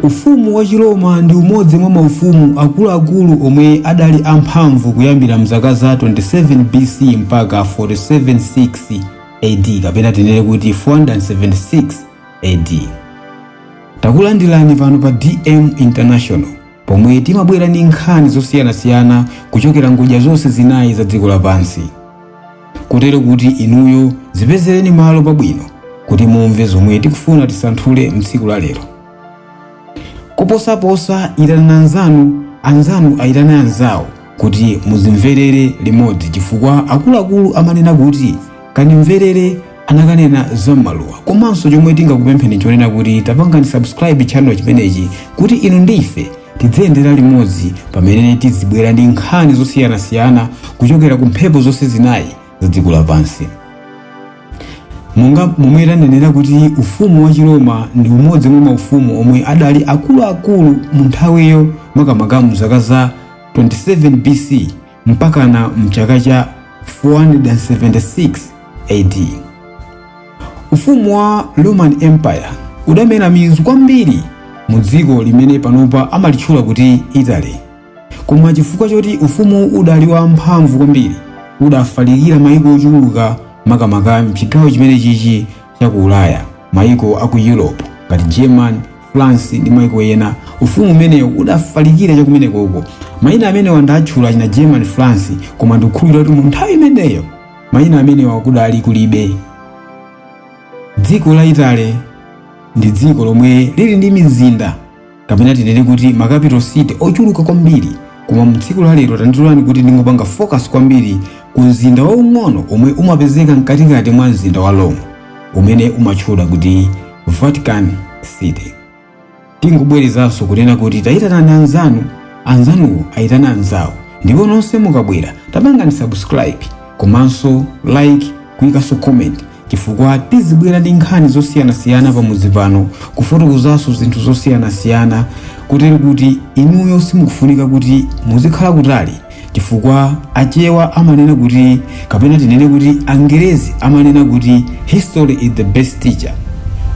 Ufumu wa Chiroma ndi umodzi mwa maufumu akuluakulu omwe adali amphamvu kuyambira mzaka za 27 BC mpaka 476 AD kapena tinene kuti 476 AD. Takulandirani pano pa DM International pomwe timabwera ndi nkhani zosiyanasiyana kuchokera ngodya zonse zinayi za dziko lapansi. kotero kuti inuyo dzipezereni malo pabwino kuti mumve zomwe tikufuna tisanthule mtsiku la lero koposaposa itanani anzanu anzanu ayitane anzawo kuti muzimverere limodzi chifukwa akuluakulu amanena kuti kanimverere anakanena za m'maluwa komanso chomwe tingakupempheni chonena kuti tapangani subscribe channel chimenechi kuti inu ndi ife tidziyendera limodzi pamene tizibwera ndi nkhani zosiyanasiyana kuchokera ku mphepo zonse zinayi za dziko lapansi monga momwe tanenera kuti ufumu wa chiroma ndi umodzi mwa maufumu omwe adali akuluakulu mu nthawiyo makamaka mu zaka za 27 bc mpakana mchaka cha 476 AD. Ufumu wa Roman Empire udamera mizu kwambiri mu dziko limene panopa amalitchula kuti Italy. Koma chifukwa choti ufumu udali wa mphamvu kwambiri, udafalikira mayiko ochuluka makamaka mchigawo chimene chichi cha ku Ulaya, mayiko a ku Europe ngati Germany, France ndi maiko ena. Ufumu umenewu udafalikira chakumeneko uko. Mayina amenewa ndatchula achina German France, koma ndikukhulupirira kuti mu nthawi imeneyo mayina amenewa kudali kulibe. Dziko la Italy ndi dziko lomwe lili ndi mizinda kapena tinene kuti ma capital city ochuluka kwambiri koma mu tsiku la lero tandilolani kuti ndingopanga focus kwambiri ku mzinda waung'ono omwe umapezeka mkatikati mwa mzinda wa Rome. umene umatchula kuti Vatican City. Tingobwerezanso kunena kuti tayitanani anzanu, anzanuwo ayitane anzawo ndipo nonse mukabwera tapangani subscribe komanso like kuyikanso comment chifukwa tizibwera ndi nkhani zosiyanasiyana pamudzi pano kufotokozanso zinthu zosiyanasiyana kotero kuti inuyo simukufunika kuti muzikhala kutali chifukwa achewa amanena kuti kapena tinene kuti angerezi amanena kuti history is the best teacher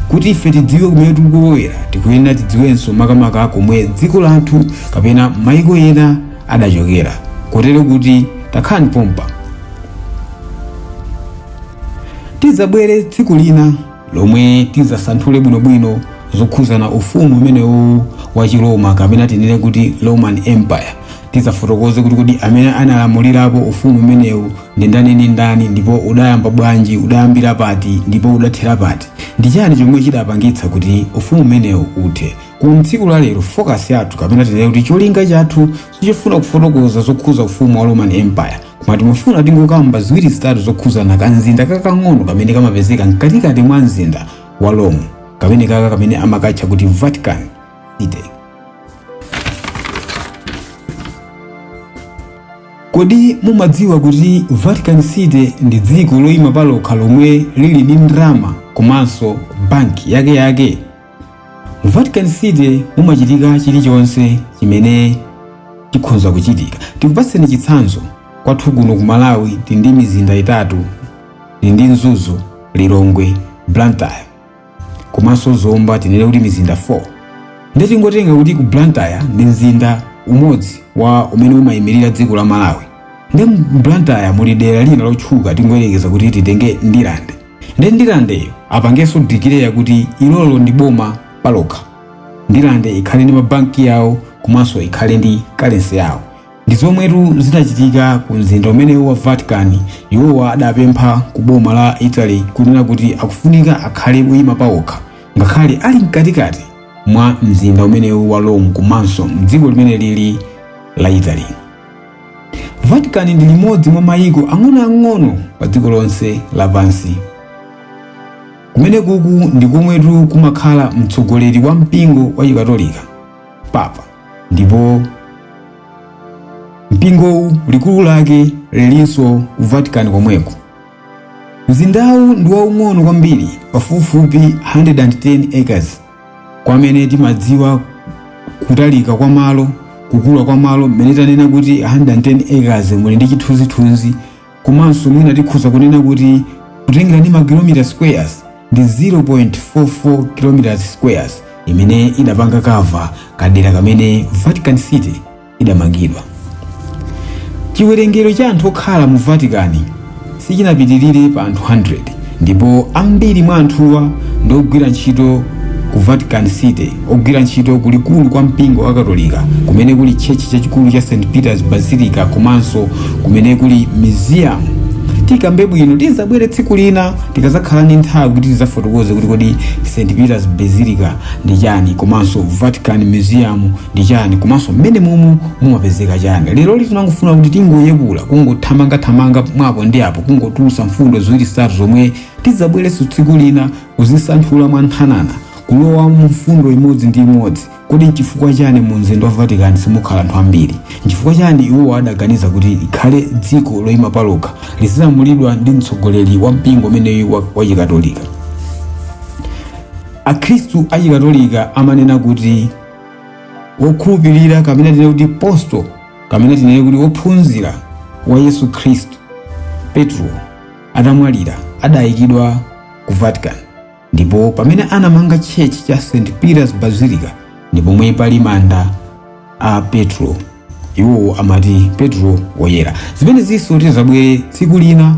kuti ife tidziwe kumene tikulowera tikuyenera tidziwenso makamaka komwe dziko lathu kapena maiko ena adachokera kotero kuti takhalani pompa tidzabwere tsiku lina lomwe tidzasanthule bwinobwino zokhuzana ufumu umenewu wa chiroma kapena tinene kuti roman empire tidzafotokoze kuti kodi amene analamulirapo ufumu umenewu ndi ndani ndi ndani ndipo udayamba bwanji udayambira pati ndipo udathera pati ndi chani chomwe chidapangitsa kuti ufumu umenewu uthe ku tsiku la lero focus yathu kapena tinene kuti cholinga chathu sichofuna kufotokoza zokhuza ufumu wa roman empire koma timafuna tingokamba ziwiri zitatu zokhuzana ka mzinda kakang'ono kamene kamapezeka mkatikati mwa mzinda wa rome kamene kaka kamene amakatcha kuti vatican city kodi mumadziwa kuti vatican city ndi dziko loyima palokha lomwe lili ndi ndalama komanso banki yake yake mu vatican city mumachitika chilichonse chimene chikhonza kuchitika tikupatseni chitsanzo kwathu kuno ku malawi tili ndi mizinda itatu tili ndi mzuzu lilongwe blantyre komanso zomba tinene kuti mizinda 4 ndiye tingotenga kuti ku blantyre ndi mzinda umodzi wa umene umayimirira dziko la malawi ndi mu blantyre muli dera lina lotchuka tingoyerekeza kuti titenge ndirande nde ndirandeyo apangenso dikileya kuti ilolo ndi boma palokha ndirande ikhale ndi mabanki yawo komanso ikhale ndi kalensi yawo ndi zomwetu zinachitika ku mzinda umenewu wa vatican iwowa adapempha ku boma la italy kunena kuti akufunika akhale oyima pawokha ngakhale ali mkatikati mwa mzinda umenewu wa rome komanso mdziko limeneli la italy Vatican ndi limodzi mwa mayiko ang'onoang'ono pa dziko lonse lapansi. Kumenekuku ndi komwetu kumakhala mtsogoleri wa mpingo wa Chikatolika, Papa, ndipo mpingowu likulu lake lilinso ku Vatican komweko. Mzindawu ndi waung'ono kwambiri, pafupifupi 110 acres. kwa amene timadziwa kutalika kwa malo kukula kwa malo mmene tanena kuti 110 acres muli ndi chithunzithunzi komanso mwina tikhoza kunena kuti kutengera ndi makilomita squares ndi 0.44 km squares imene idapanga kava kadera kamene vatican city idamangidwa. Chiwerengero cha anthu okhala mu Vatican sichinapitirire pa anthu 100 ndipo ambiri mwa anthuwa ndi ogwira ntchito ku Vatican City, ogwira ntchito ku likulu kwa mpingo wa Katolika kumene kuli tchechi chachikulu cha St. Peter's Basilica komanso kumene kuli museum. Tikambe bwino tizabwere tsiku lina tikazakhala ndi nthawi kuti tizafotokoze kuti kodi St. Peter's Basilica ndi chani komanso Vatican Museum ndi chani komanso mmene momwe mumapezeka chani leroli tinangofuna kuti tingoyepula kungothamangathamanga mwapo ndi apo kungotulusa mfundo ziwiri zitatu zomwe tidzabwerenso tsiku lina kuzisanthula mwa nkhanana kulowa mu mfundo imodzi ndi imodzi kodi nchifukwa chani mu mzinda wa vatican simukhala anthu ambiri nchifukwa chani iwowo adaganiza kuti likhale dziko loyima palokha lizilamulidwa ndi mtsogoleri wa mpingo umeneyu wa- wachikatolika akhristu achikatolika amanena kuti wokhulupirira kapena tinene kuti apostolo kapena tinene kuti wophunzira wa yesu khristu petro atamwalira adayikidwa ku vatican ndipo pamene anamanga church cha st peters basilica ndi pomwe pali manda a petro iwowo amati petro woyera zimenezinso tizabwere tsiku lina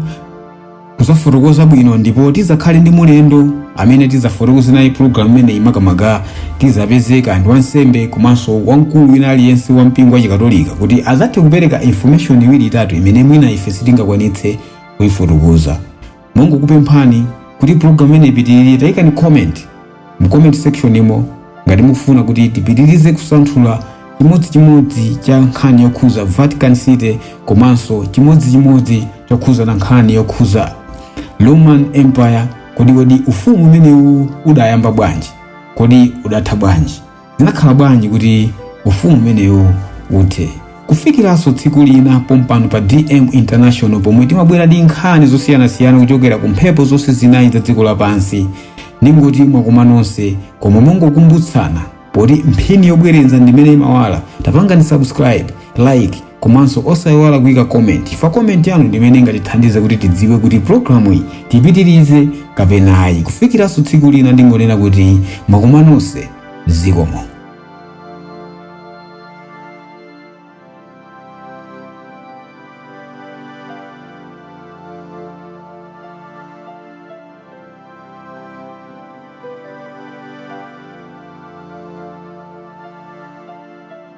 kuzafotokoza bwino ndipo tizakhale ndi mlendo amene tizafotokoze naye pulogalamu imeneyi makamaka tizapezeka ndi wansembe komanso wamkulu wina aliyense wa mpingo wa chikatolika kuti azathe kupereka information iwiri itatu imene mwina ife sitingakwanitse kuyifotokoza mongokupemphani kuti pulogalamu imeneyi ipitirire tayikani comment mu comment section imo ngati mukufuna kuti tipitirize kusanthula chimodzichimodzi cha nkhani yokhuza vatican city komanso chimodzichimodzi chokhuzana ndi nkhani yokhuza roman empire kodi kodi ufumu umenewu udayamba bwanji kodi udatha bwanji Zinakhala bwanji kuti ufumu umenewu uthe? Kufikiranso tsiku lina pompano pa DM International pomwe timabwera ndi nkhani zosiyanasiyana kuchokera ku mphepo zonse zinayi za dziko lapansi, ndingoti mwakoma nonse koma mongokumbutsana poti mphini yobwereza ndimene imawala tapangani subscribe, like, komanso osaiwala kuika comment chifukwa comment yanu ndi imene ingatithandize kuti tidziwe kuti programu iyi tipitirize kapena ayi kufikiranso tsiku lina ndingonena kuti mwakoma nonse zikomo